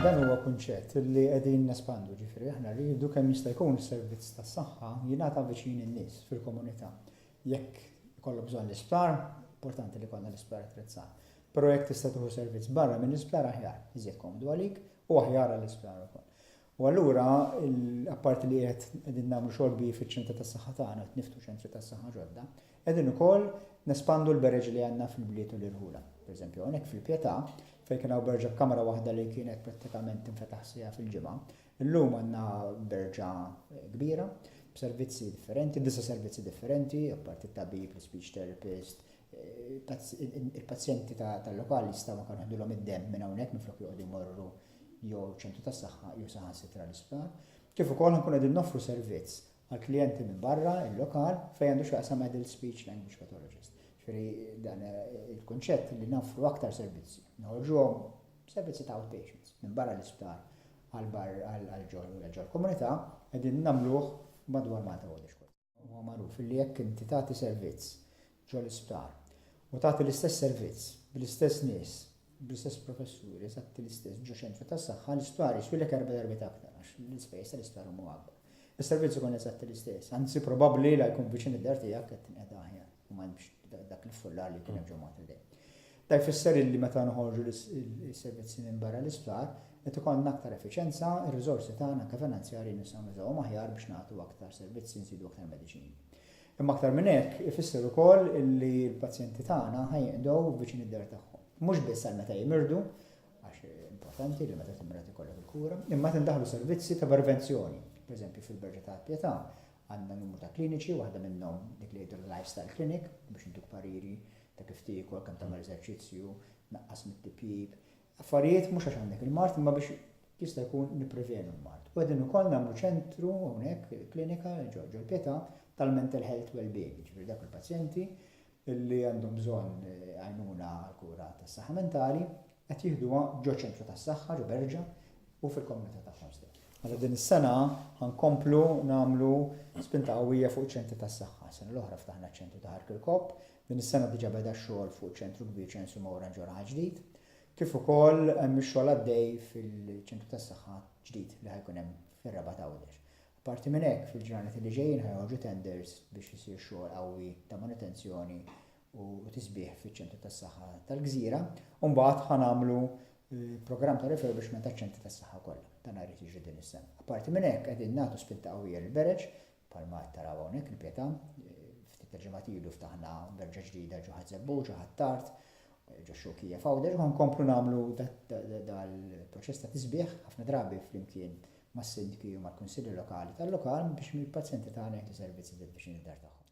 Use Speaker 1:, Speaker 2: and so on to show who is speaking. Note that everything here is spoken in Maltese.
Speaker 1: Dan huwa kunċett li qegħdin nespandu, ġifieri aħna rridu kemm jista' jkun is-servizz tas-saħħa jingħata viċin in-nies fil-komunità. Jekk ikollok bżonn l-isptar, importanti li jkollna l-isptar attrezzat. Però jekk tista' tieħu servizz barra mill-isptar aħjar, iżjed komdu għalik u aħjar għall-isptar ukoll. U allura, apparti li qed qegħdin nagħmlu xogħol kbir fiċ-ċentri tas-saħħa tagħna, qed niftħu ċentri tas-saħħa ġodda, qegħdin ukoll nespandu l-bereġ li għandna fil-bliet u l-irħula. Pereżempju, hawnhekk fil-Pietà, fejn kien hawn berġa b'kamra waħda li kienet prattikament tinfetaħ siegħa fil-ġimgħa, illum għandna berġa kbira b'servizzi differenti, disa' servizzi differenti, apparti t-tabib, l-speech therapist, il-pazjenti tal-lokal jistgħu anke neħdulhom id-demm minn hawnhekk minflok joqogħdu jmorru jew ċentru tas-saħħa jew saħansitra l-isptar, kif ukoll ħankunu qegħdin noffru servizz għall-klijenti minn barra l-lokal fejn għandu x'jaqsam adult speech language pathologist. Ġifieri dan il-kunċett li noffru aktar servizzi, noħorġuhom servizzi ta' outpatients minn barra l-isptar għal-bar għal-ġol u l-ġol komunità, għedin namluħ madwar Malta għodix kol. Huwa magħruf illi jekk inti tagħti servizz ġol-isptar u tagħti l-istess servizz bl-istess nies, bl-istess professuri eżatti l-istess ġo ċentru tas-saħħa, l-isptar jiswilek erba' darbiet aktar għax l-ispejjeż tal-isptar huma akbar. Is-servizz ikun eżatti l-istess, anzi probabbli la jkun viċin id-dar tiegħek qed tinqeda aħjar. u ma hemmx dak l-iffullar li kien hemm ġo Malta dejjem. Dan jfisser illi meta noħorġu l-servizzi minn barra l-isptar, qed ikollna aktar effiċjenza, ir-riżorsi tagħna anke finanzjarji nistgħu nużawhom aħjar biex nagħtu aktar servizzi, nżidu aktar mediċini. Imma aktar minn hekk, ifisser ukoll illi l-pazjenti tagħna ħa jinqdew viċin id-dar tagħhom. Mhux biss għal meta jimirdu, għax importanti li meta timret ikollok il-kura, imma meta ndaħlu servizzi ta' prevenzjoni, pereżempju fil-Berġa tal-Pietà, Għandna numru ta' kliniċi, waħda minnhom dik li jgħidilha lifestyle clinic, biex intuk pariri ta' kif tiekol, kemm tagħmel eżerċizzju, tnaqqas mit-tipjip. Affarijiet mhux għax għandek il-mard imma biex jista' jkun nipprevjenu l-mard. U qegħdin ukoll nagħmlu ċentru hawnhekk, klinika ġo l-Pietà tal-mental health wellbeing, jiġifieri dawk il-pazjenti li għandhom bżonn għajnuna għall-kura tas-saħħa mentali qed jieħduha ġo ċentru tas-saħħa ġo Berġa u fil-komunità tagħhom stess. Mela din is-sena ħa nkomplu nagħmlu spinta qawwija fuq iċ-ċentri tas-saħħa. Sena l-oħra ftaħna ċ-ċentru ta' Ħarq il-Kopp, din is-sena diġà beda x-xogħol fuq ċentru kbir ċensu Mawra ġo Raħal Ġdid, kif ukoll hemm ix-xogħol għaddej fil-ċentru tas-saħħa ġdid li ħa jkun hemm fir-Raba' t'Għawdex. Apparti minn hekk, fil-ġranet li ġejjin ħa joħorġu tenders biex isir xogħol qawwi ta' manutenzjoni u tisbiħ fiċ-Ċentru tas-Saħħa tal-Gżira u mbagħad ħa nagħmlu programm ta' refurbishment taċ-Ċentri tas-Saħħa kollha. Dan jrid jiġri din is-sena. Apparti minn hekk qegħdin nagħtu spinta qawwija lil Bereġ bħalma qed taraw hawnhekk il-Pietà, ftit tal-ġimgħat ilu ftaħna berġa ġdida ġo Ħaż-Żebbuġ, ġo Ħ'Attard, ġo Xewkija f'Għawdex u ħankomplu nagħmlu dal-proċess ta' tisbiħ ħafna drabi flimkien mas-sindki u mal-kunsilli lokali tal-lokal biex mill-pazjenti tagħna jieħdu servizzi fil-viċinità tagħhom.